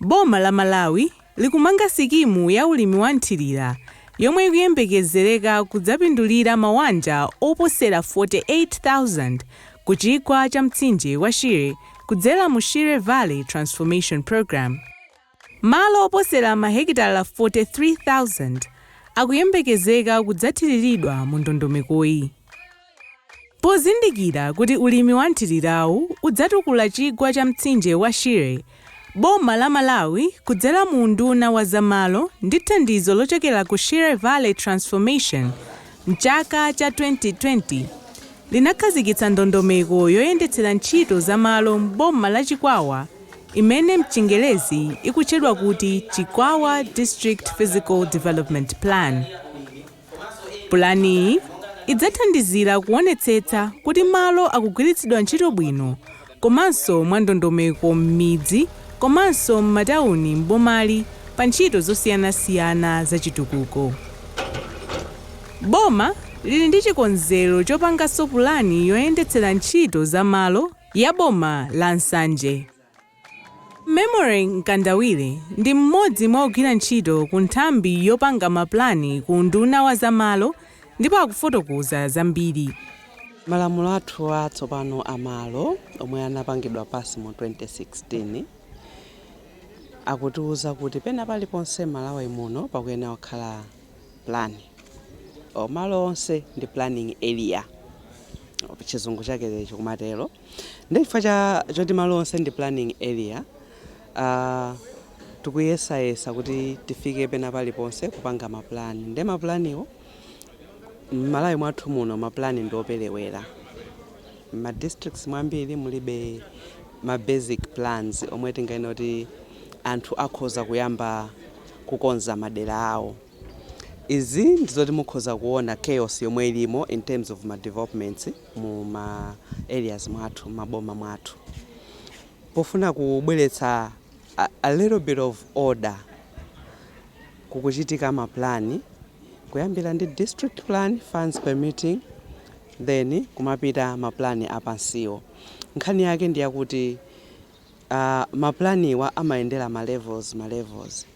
boma la Malawi likumanga sikimu ya ulimi wa mthirira yomwe ikuyembekezereka kudzapindulira mawanja oposera 48,000 ku chigwa cha mtsinje wa Shire kudzera mu Shire Valley Transformation Programme. Malo oposera mahekitala 43,000 akuyembekezeka kudzathiriridwa mu ndondomekoyi. Pozindikira kuti ulimi wa mthirirawu udzatukula chigwa cha mtsinje wa Shire, boma la Malawi kudzera mu unduna wa za malo ndi thandizo lochokera ku Shire Valley Transformation m'chaka cha 2020 linakhazikitsa ndondomeko yoyendetsera ntchito za malo m'boma la Chikwawa imene mchingerezi ikutchedwa kuti Chikwawa District Physical Development Plan. Pulaniyi idzathandizira kuonetsetsa kuti malo akugwiritsidwa ntchito bwino komanso mwandondomeko m'midzi komanso m'matauni m'bomali pa ntchito zosiyanasiyana zachitukuko. Boma lili ndi chikonzero chopanganso pulani yoyendetsera ntchito za malo ya boma la Nsanje. Memory Mkandawire ndi mmodzi mwa ogwira ntchito ku nthambi yopanga ma pulani ku unduna wa za malo ndipo akufotokoza zambiri. Malamulo athu a tsopano a malo omwe anapangidwa pass mu 2016 akutiuza kuti pena paliponse Malawi muno pakuyenera kukhala plan or malo onse ndi planning area chizungu chake chikumatero. Ndiye chifukwa choti malo onse ndi planning area, tikuyesayesa kuti tifike pena paliponse kupanga ma plan. Ndiye ma plan wo, m'Malawi mwathu muno ma plan ndi operewera. M'ma districts mwambiri mulibe ma basic plans omwe tinganene kuti anthu akhoza kuyamba kukonza madera awo. Izi ndi zoti mukhoza kuona chaos yomwe ilimo in terms of ma developments. mu ma areas mwathu mmaboma mwathu pofuna kubweretsa a little bit of order kukuchitika ma plan kuyambira ndi district plan funds permitting then kumapita ma plan apansiwo nkhani yake ndi yakuti uh, ma planiwa amayendera ma levels ma levels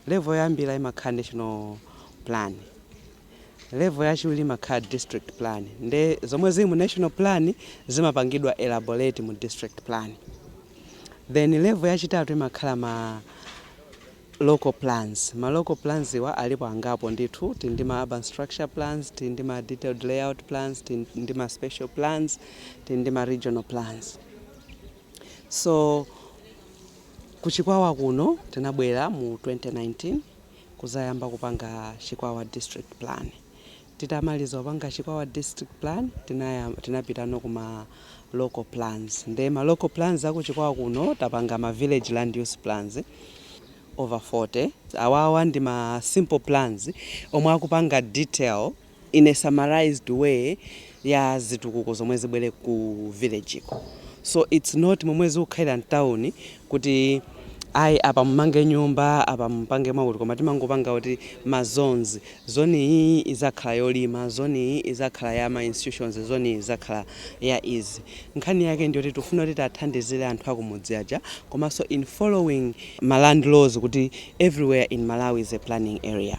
level yoyambira imakhala national plan Level yachiwiri imakhala district plan nde zomwe zili mu national plan zimapangidwa elaborate mu district plan then level yachitatu imakhala ma local plans. Ma local plans wa alipo angapo ndithu, tili ndi ma urban structure plans, tili ndi ma detailed layout plans, tili ndi ma special plans, tili ndi ma regional plans. So ku Chikwawa kuno tinabwera mu 2019. kuzayamba kupanga chikwawa district plan titamaliza kupanga chikwawa district plan tinapitano ku ma local plans nde ma local plans aku chikwawa kuno tapanga ma village land use plans over 40 awawa ndi ma simple plans omwe akupanga detail in a summarised way ya zitukuko zomwe zibwere ku village ko so its not momwe zikukhalira mtown kuti ayi apa mumange nyumba apa mupange mwakuti koma timangopanga kuti ma zones zone iyi izakhala yolima zone iyi izakhala ya ma institutions zone iyi izakhala ya izi nkhani yake ndiyoti tifuna kuti tiathandizire anthu akumudzi aja komanso in following ma land laws kuti everywhere in malawi is a planning area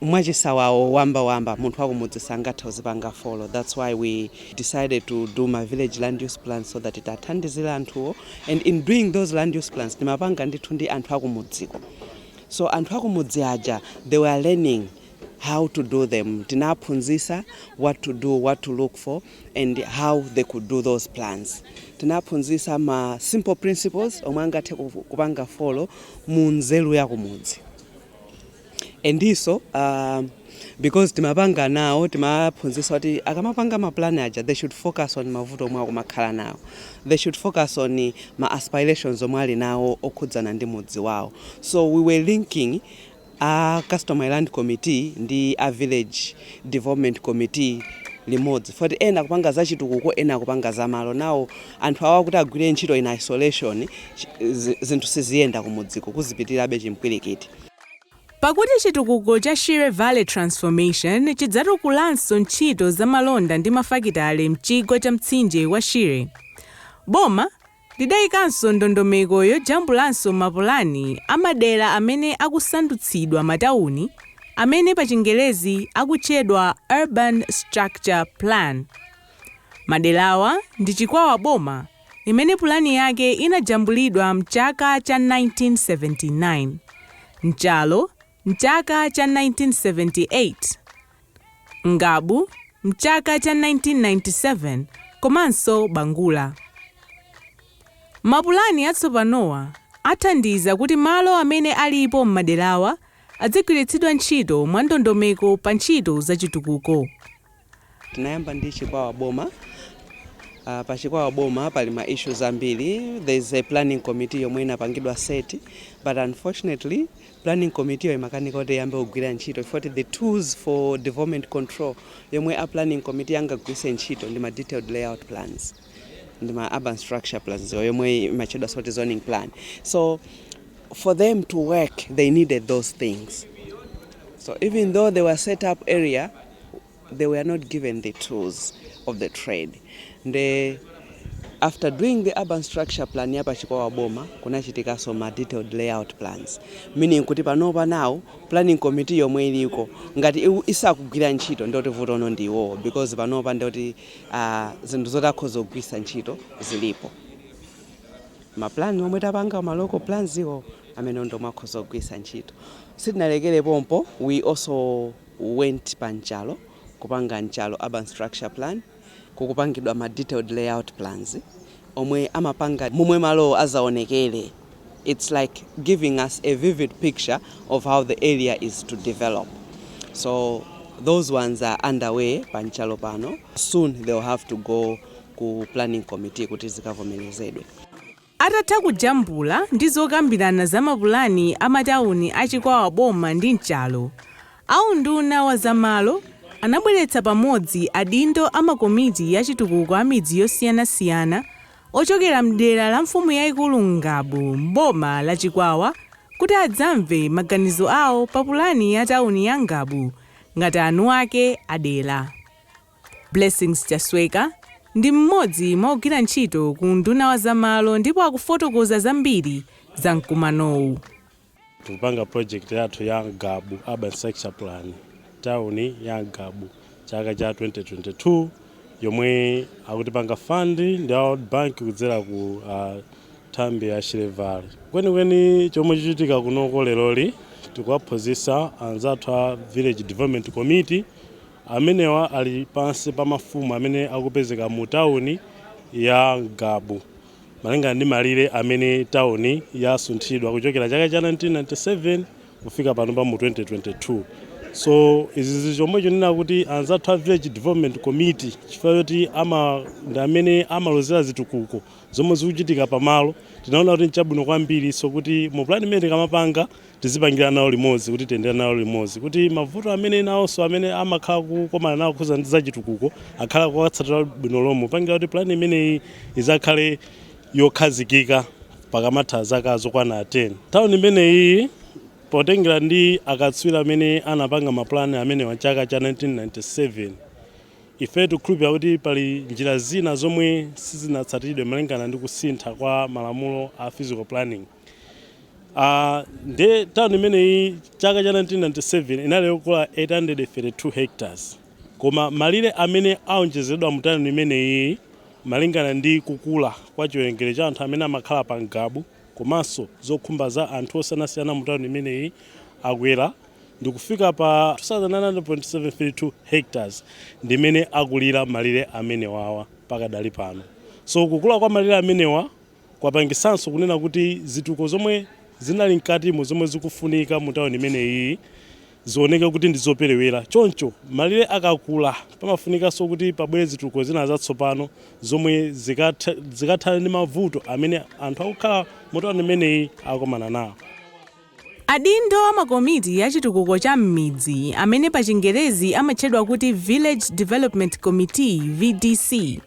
mwachisawawa wamba wamba munthu wakumudzi sangathe kuzipanga follow that's why we decided to do ma village land use plans so that tiathandizile anthuwo and in doing those land use plans timapanga ndithu ndi anthu akumudziko so anthu akumudzi aja they were learning how to do them tinaphunzisa what to do what to look for and how they could do those plans tinaphunzisa ma simple principles omwe angathe kupanga follow mu nzeru yakumudzi and so because timapanga nawo timaphunzisa kuti akamapanga mapulani aja they should focus on mavuto omwe akumakhala nawo they should focus on ma aspirations omwe ali nawo okhudzana ndi mudzi wawo so we were linking a customary land committee ndi a village development committee limodzi foti ena akupanga za chitukuko ena akupanga za malo nawo anthu awa kuti agwire ntchito in isolation zinthu siziyenda kumudziko kuzipitirabe chimpwirikiti Pakuti chitukuko cha Shire Valley Transformation chidzatukulanso ntchito za malonda ndi mafakitale m'chigwa cha mtsinje wa Shire, boma lidaikanso ndondomeko yojambulanso mapulani a madera amene akusandutsidwa matauni amene pachingerezi akutchedwa Urban Structure Plan. Maderawa ndi Chikwawa Boma. imene pulani yake inajambulidwa m'chaka cha 1979, Nchalo m'chaka cha 1978, Ngabu m'chaka cha 1997 komanso Bangula. Mapulani atsopanowa athandiza kuti malo amene alipo m'maderawa adzigwiritsidwa ntchito mwandondomeko pa ntchito zachitukuko. Tinayamba ndi Chikwawa boma. Pa Chikwawa boma pali ma issues ambiri. There is a planning committee yomwe inapangidwa set but unfortunately planning committee-yo imakanika kuti iyambe kugwira ntchito chifukwa choti the tools for development control yomwe a planning committee angagwiritse ntchito ndi ma detailed layout plans ndi ma urban structure plan-yo yomwe imatchedwanso kuti zoning plan. So for them to work they needed those things. So even though they were set up earlier they were not given the tools of the trade nde after doing the urban structure plan ya pa Chikwawa boma kunachitikanso ma detailed layout plans meaning kuti panopa nawo planning committee yomwe iliko ngati isakugwira ntchito ndoti vutono ndi iwowo because panopa ndoti ah, zinthu zoti akhoza kugwiritsa ntchito zilipo ma plan omwe tapanga ma local plans iwo amene ndomwe akhoza kugwiritsa ntchito sitinalekere pompo we also went pa mchalo kupanga mchalo urban structure plan kukupangidwa ma detailed layout plans omwe amapanga momwe malowo azaonekele its like giving us a vivid picture of how the area is to develop so those ones are under way pa mchalo pano soon they will have to go ku planning committee kuti zikavomelezedwe. Atatha kujambula ndi zokambirana za mapulani a matauni a Chikwawa Boma ndi Nchalo, aunduna wa za malo anabweretsa pamodzi adindo a makomiti ya chitukuko a midzi yosiyanasiyana ochokera m'dera la mfumu yaikulu Ngabu m'boma la Chikwawa kuti adzamve maganizo awo pa pulani ya tauni ya Ngabu ngati eni ake a dera. Blessings Chasweka ndi mmodzi mwa ogwira ntchito ku unduna wa za malo ndipo akufotokoza zambiri za mkumanowu. tikupanga project yathu ya Ngabu urban structure plan tauni ya Ngabu chaka cha 2022 yomwe akutipanga fund ndi a World Bank kudzera ku uh, nthambi ya Shire Valley kwenikweni chomwe chichitika kunoko leroli tikuwaphunzitsa anzathu a village development committee Amenewa ali pansi pa mafumu amene akupezeka mu tauni ya Ngabu, malingana ndi malire amene tauni yasunthidwa kuchokera chaka cha 1997 kufika panopa mu 2022. So izi zili chomwecho kunena kuti anzathu a Village Development Committee chifukwa choti ama ndi amene amalozera zitukuko zomwe zikuchitika pa malo, tinaona kuti nchabwino kwambirinso kuti mu plan imene tikamapanga, tizipangira nawo limodzi, kuti tiyendere nawo limodzi, kuti mavuto amene nawonso amene amakhala kukomana nawo kukhuza ndi zachitukuko akhale kuwatsatira bwino lomwe popangira kuti pulani imeneyi izakhale yokhazikika pakamatha zaka zokwana 10 tauni imeneyi potengera ndi akatswiri amene anapanga mapulani amenewa chaka cha 1997 ife tikukhulupirira kuti pali njira zina zomwe sizinatsatidwe malingana ndi kusintha kwa malamulo a physical planning Uh, ah, nde town imeneyi chaka cha 1997 inali yokula 832 hectares koma malire amene aonjezedwa mu town imeneyi malingana ndi kukula kwa chiwerengero cha anthu amene amakhala pa Ngabu komanso zokhumba za anthu osiyanasiyana mu town imeneyi akwera ndikufika pa 2972 hectares ndimene akulira malire amenewawa pakadali pano so kukula kwa malire amenewa Kwapangitsanso kunena kuti zitukuko zomwe zinali mkatimo zomwe zikufunika mu tawuni imeneyiyi zioneke kuti ndi zoperewera. Choncho, malire akakula pamafunikanso kuti pabwere zitukuko zina zatsopano zomwe zikathane ndi mavuto amene anthu akukhala mu tawuni imeneyi akukomana nawo. Adindo a makomiti a chitukuko cha m'midzi, amene pachingerezi amatchedwa kuti Village Development Committee, VDC,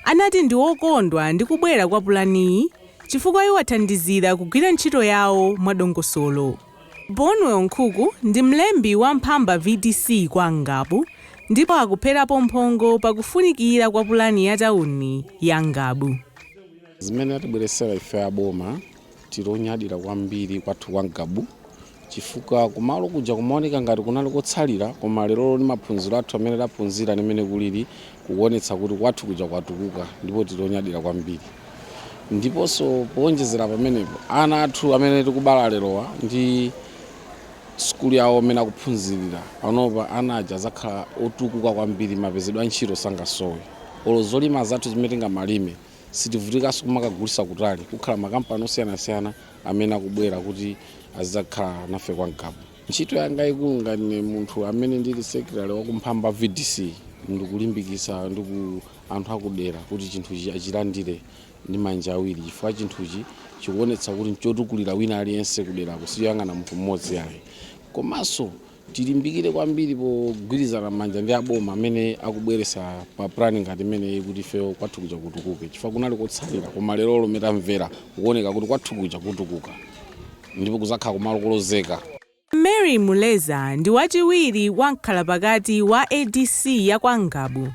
anati ndi okondwa ndi kubwera kwa pulaniyi chifukwa iwathandizira kugwira ntchito yawo mwadongosolo. Bonwell Nkhuku ndi mlembi wa Mphamba VDC kwa Ngabu ndipo akupherapo mphongo pa kufunikira kwa pulani ya tawuni ya Ngabu. Zimene atibweretsera ife a boma Tili onyadira kwambiri kwathu kwa Ngabu chifukwa kumalo kuja kumaoneka ngati kunali kotsalira koma lerolo ndi maphunziro athu amene taphunzira ndi mmene kulili kukuonetsa kuti kwathu kuja kwatukuka ndipo tili onyadira kwambiri. Ndiponso powonjezera pamenepo, ana athu amene tikubala lerowa ndi sukulu yawo mmene akuphunzirira panopa, ana aja adzakhala otukuka kwambiri, mapezedwe a ntchito sangasowe olo zolima zathu zimene tingamalime. Sitivutikanso kumakagulitsa kutali. Kukhala makampani osiyanasiyana amene akubwera kuti azidzakhala nafe kwa Ngabu. Ntchito yanga yaikulu ngati ine munthu amene ndili secretary wa ku Mphamba VDC ndikulimbikitsa anthu akudera kuti chinthuchi achilandire ndi manja awiri chifukwa chinthuchi chikuonetsa kuti nchotukulira wina aliyense kuderako sichoyang'ana munthu mmodzi ayi. Komanso Tilimbikire kwambiri pogwirizana manja ndi aboma amene akubweresa pulani ngati imeneyi kuti ifeyo kwathu kuja kutukuke chifukwa kunali kotsalira koma lero lomwe tamvera kukuoneka kuti kwathu kuja kutukuka ndipo kuzakhala kumalo kolozeka. Mary Muleza ndi wachiwiri wa mkhalapakati wa adc ya kwa Ngabu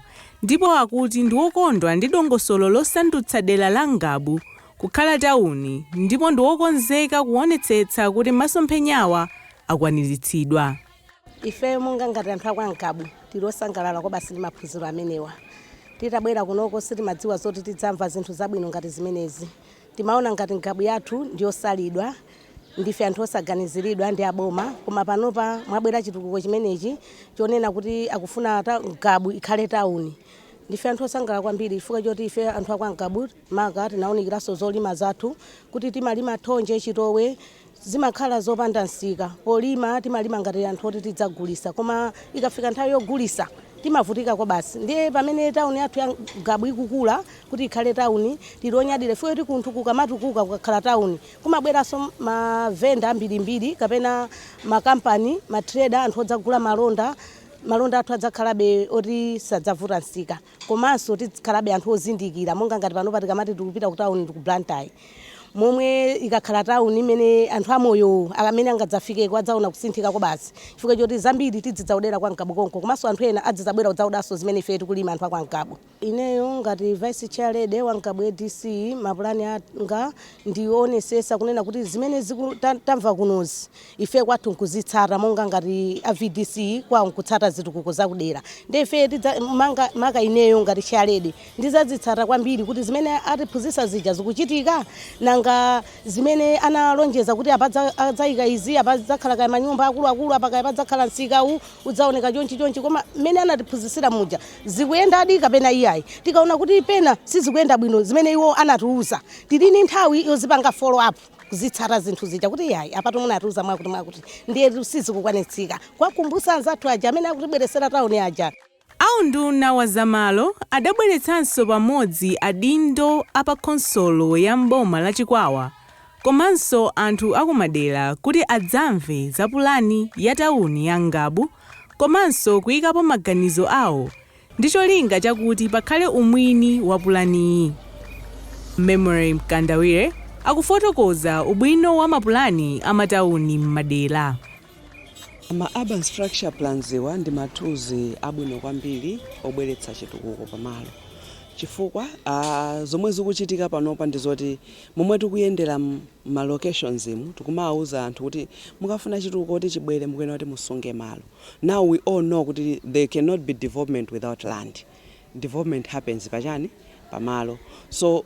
ndipo akuti ndi wokondwa ndi dongosolo losandutsa dera la Ngabu kukhala tauni ndipo ndi wokonzeka kuonetsetsa kuti masomphenyawa akwaniritsidwa. Ifeyo monga ngati anthu a kwa Ngabu tili osangalala kwabasi ndi maphunziro amenewa. Titabwera kunoko sitimadziwa zoti tidzamva zinthu zabwino ngati zimenezi. Timaona ngati Ngabu yathu ndi yosalidwa, ndife anthu osaganiziridwa ndi a boma koma panopa mwabwera chitukuko chimenechi chonena kuti akufuna Ngabu ikhale tauni. Ndife anthu osangalala kwambiri chifukwa choti ifeyo anthu a kwa Ngabu maka tinaunikiranso zolima zathu kuti timalima thonje, chitowe, Zimakhala zopanda nsika. Polima timalima ngati anthu oti tidzagulisa koma ikafika nthawi yogulisa timavutika kwabasi. Ndiye pamene town yathu ya Ngabu ikukula kuti ikhale town tili onyadira chifukwa choti kunthu kukamatukuka kukakhala town kumabweraso ma vendor ambirimbiri kapena ma company, ma trader, anthu odzagula malonda, malonda athu adzakhalabe oti sadzavuta nsika. Komanso tidzikhalabe anthu ozindikira monga ngati panopa tikamati tikupita ku town ku Blantyre momwe ikakhala town imene anthu amoyo amene angadzafikeko adzaona kusinthika kwabasi chifukwa choti zambiri tidzidzaodera kwa Ngabu konko komanso anthu ena adzidzabwera kudzaodanso zimene ifeyo tikulima anthu a kwa Ngabu. Ineyo ngati Vice Chair Lady wa Ngabu adc mapulani anga ndi oonesesa kunena kuti zimene ziku, ta, tamva kunozi ife kwathu nkuzitsata monga ngati a vdc kwawo nkutsata zitukuko zakudera ndi ife tidza- manga- maka ineyo ngati Chair Lady ndizazitsata kwambiri kuti zimene atiphunzitsa zija zikuchitika nanga zimene analonjeza kuti apa adzayika izi apa padzakhala kaya manyumba akuluakulu apa kaya padzakhala msika uwu udzaoneka chonchi chonchi koma mmene anatiphunzitsira muja zikuyendadi kapena iyayi tikaona kuti pena sizikuyenda bwino zimene iwo anatiuza tili ndi nthawi yozipanga follow up kuzitsata zinthu zija kuti iyayi apatu munatiuza mwakuti mwakuti ndiye sizikukwanitsika kuwakumbusa anzathu aja amene akutibweresera tauni aja. A unduna wa za malo adabweretsanso pamodzi adindo a pa khonsolo ya m'boma la Chikwawa komanso anthu a kumadera kuti adzamve za pulani ya tawuni ya Ngabu komanso kuikapo maganizo awo ndi cholinga chakuti pakhale umwini wa pulaniyi. Memory Mkandawire akufotokoza ubwino wa mapulani a matauni m'madera. Ma Urban Structure Plans-wa ndi ma tools abwino kwambiri obweretsa chitukuko pamalo chifukwa zomwe zikuchitika panopa ndi zoti momwe tikuyendera m'ma locations-mu tikumawuza anthu kuti mukafuna chitukuko kuti chibwere mukuyenera kuti musunge malo. now we all know kuti there cannot be development without land, development happens pa chani? pa malo so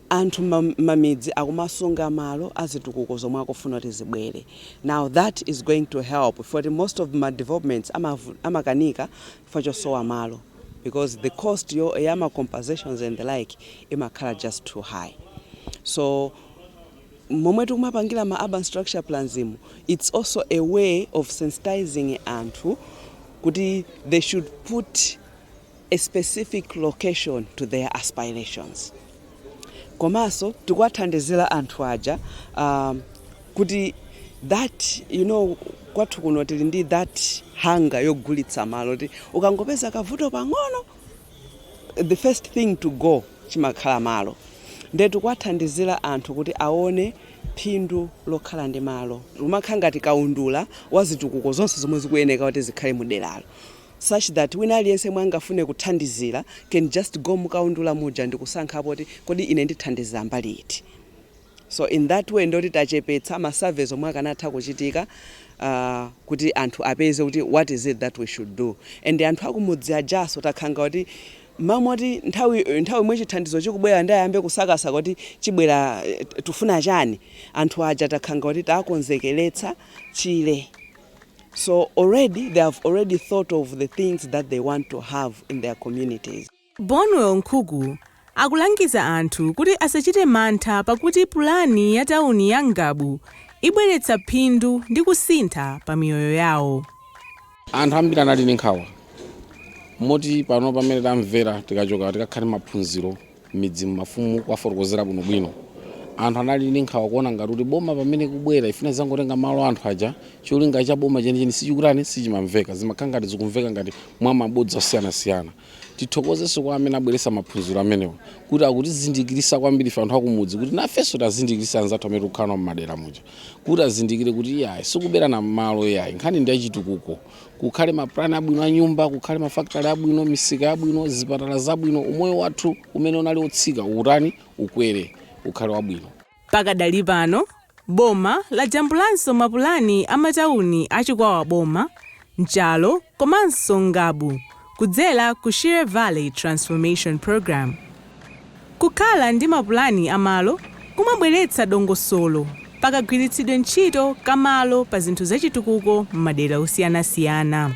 anthu mma mmamidzi akumasunga malo azitukuko zomwe akufuna kuti zibwere now that is going to help chifukwa choti most of ma developments amavu amakanika chifukwa chosowa malo because the cost yo ya ma compensations and the like imakhala just too high so Momwe tikumapangira ma urban structure plans-mu it's also a way of sensitizing anthu kuti they should put a specific location to their aspirations komanso tikuwathandizira anthu aja kuti that you know kwathu kuno tili ndi that hunger yogulitsa malo kuti ukangopeza kavuto pang'ono the first thing to go chimakhala malo nde tikuwathandizira anthu kuti aone phindu lokhala ndi malo umakhala ngati kaundula wa zitukuko zonse zomwe zikuyeneka kuti zikhale mu deralo such that wina aliyense yemwe angafune kuthandizira can just go mukaundula muja ndikusankhapo kuti kodi ine ndithandizira mbali iti. So in that way ndoti tachepetsa ma surveys omwe akanatha kuchitika aah kuti anthu apeze kuti what is it that we should do and anthu akumudzi ajaso takhanga kuti mmalo moti nthawi yomwe chithandizo chikubwera nde ayambe kusakasa kuti chibwera tifuna chani anthu aja takhanga kuti taakonzekeretsa chile so already they have already thought of the things that they want to have in their communities. Bonwell Nkhuku akulangiza anthu kuti asachite mantha pakuti pulani ya tawuni ya Ngabu ibweretsa phindu ndi kusintha pa miyoyo yawo. Anthu ambiri anali ndi nkhawa moti pano pamene tamvera tikachoka tikakhala ndi maphunziro m'midzimu mafumu kuwafotokozera bwinobwino. Anthu anali ndi nkhawa kuona ngati kuti boma pamene ikubwera ifuna idzangotenga malo a anthu aja, cholinga cha boma chenicheni sichikutani, sichimamveka. Zimakhala ngati zikumveka ngati mwa mabodza osiyanasiyana. Tithokozenso kwa amene abweretsa maphunziro amenewa kuti akutizindikirisa kwambiri ife anthu akumudzi kuti nafenso tikazindikirise anzathu amene tikukhala nawo mmadera muja kuti azindikire kuti iyayi sikuberana malo iyayi nkhani ndi yachitukuko kukhale mapulani abwino a nyumba kukhale mafakitale abwino misika yabwino zipatala zabwino umoyo wathu umene unali otsika ukutani ukwere ukhale wabwino. Pakadali pano, boma lajambulanso mapulani a matauni a Chikwawa Boma, Nchalo komanso Ngabu kudzera ku Shire Valley Transformation Programme. Kukhala ndi mapulani a malo kumabweretsa dongosolo pa kagwiritsidwe ntchito ka malo pa zinthu zachitukuko m'madera osiyanasiyana.